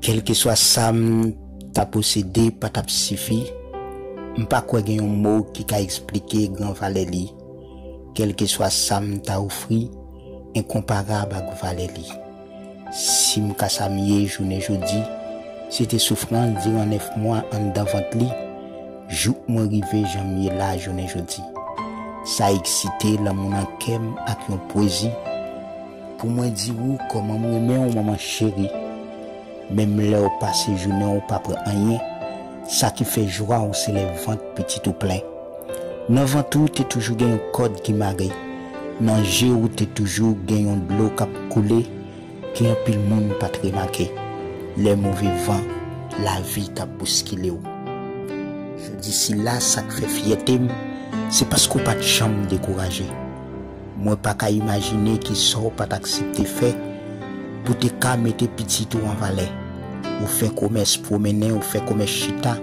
Kèlkeswa sa m ta posede pa t ap sifi, m pa kwè gen yon mo ki ka esplike gran valè li, kèlkeswa sa m ta ofri enkonparab ak valè li. Si m ka sa m ye jounen jodi, se te soufrans diran nèf mwa anndan vant li, jouk mwen rive jan m ye la jounen jodi. Sa eksite lanmou nan kè m ak yon pwezi. Pou mwen di ou kòman m renmen w manman cheri Menm lè w pase jounen w pa pran anyen Sa ki fè jwa w se lè vant pitit ou plen Nan vant ou te toujou gen yon kòd ki mare Nan je w te toujou gen yon dlo k ap koule Ke anpil moun pa t remake Lè move van lavi t ap bouskile w Jodi sila sa k fè fyète m Se paske w pa t janm dekouraje. Mwen pa ka imajine ki sa w pa t aksepte fè pou w te ka mete pitit ou an valè. Ou fè komès pwomennen, ou fè komès chita,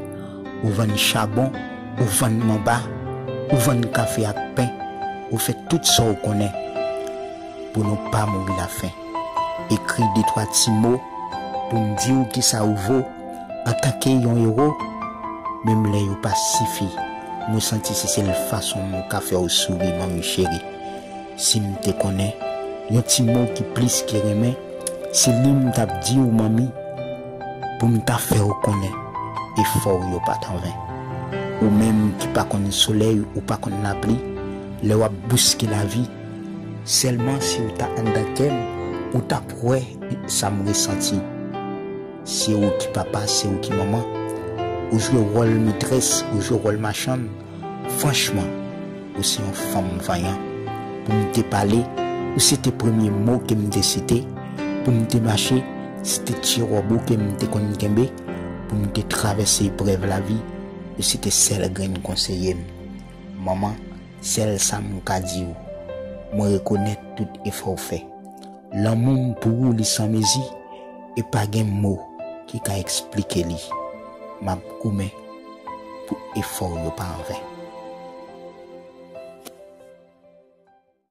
ou vann chabon, ou vann manba, ou vann kafe ak pen, ou fè tout sa w konnen pou nou pa mouri lafen. Ekri detwa ti mo pou n di w ki sa ou vo. Antanke yon ewo, menm lè yo pa sifi, mwen santi se sèl fason mwen ka fè w souri manmi cheri. Si m te konnen yon ti mo ki plis ke renmen, se li m t ap di w manmi, pou m ta fè w konnen efò w yo pa t anven. Ou menm ki pa konn solèy ou pa konn lapli, lè w ap bouske lavi, sèlman si w ta anndan kè m ou t ap wè sa m resanti. Se ou ki papa, se ou ki manman. Ou jwe wòl metrès, ou jwe wòl machann. Franchman, ou se yon fanm vanyan. Pou m te pale, ou se te premye mo ke m te site. Pou m te mache, se te ti wòb ou ke m te konn kenbe. Pou m te travèse eprèv lavi, ou se te sèl grenn konseye m. Manman, sèl sa m ka di ou, mwen rekonèt tout efò ou fè. Lanmou m pou ou li san mezi e pa gen mo ki ka eksplike li M ap goumen pou efò w yo pa anven.